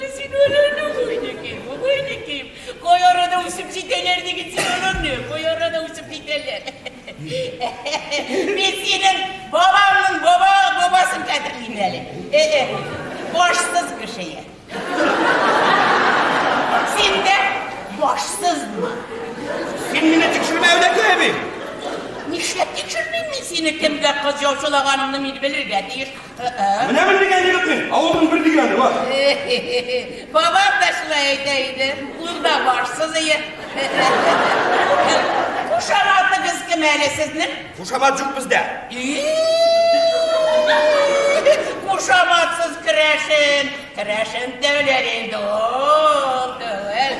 Син аларны гайни ким, гайни ким, кай арада үсеп җитәләр диген син аларны, кай арада үсеп җитәләр. Мин синең бабаңның баба бабасын кадерлим әле. Э-э, башсыз кешее. Син дә башсыз була. Син мине тикшермә, Әүләкәй әби! Нишләп тикшермим мин сине, кемгә кыз яучылаганыңны мин белергә тиеш. Менә бер дигәне юк мин. Авылның бер дигәне бар. Бабам да шулай әйтә иде. Унда барсыз ие. Кушаматыгыз кем әле сезнең? Кушамат юк бездә. Кушаматсыз керәшен. Керәшен дәүләр инде ул. Дәүләр.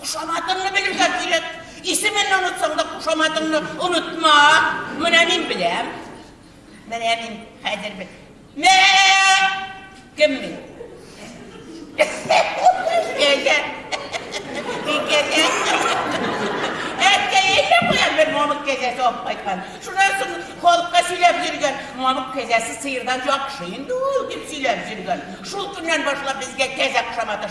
Кушаматыңны белергә кирәк. Исеменне онытсаң да кушаматыңны онытма. Менә мин беләм. Менә мин хәзер бел. Мә! Кем мин? Әйдә. Әйдә. Әйдә куям бер мамык кәзәсе алып кайткан. Шуннан соң халыкка сөйләп йөргән. Мамык кәзәсе сыердан яхшы инде ул дип сөйләп йөргән. Шул көннән башлап безгә кәзә кушаматы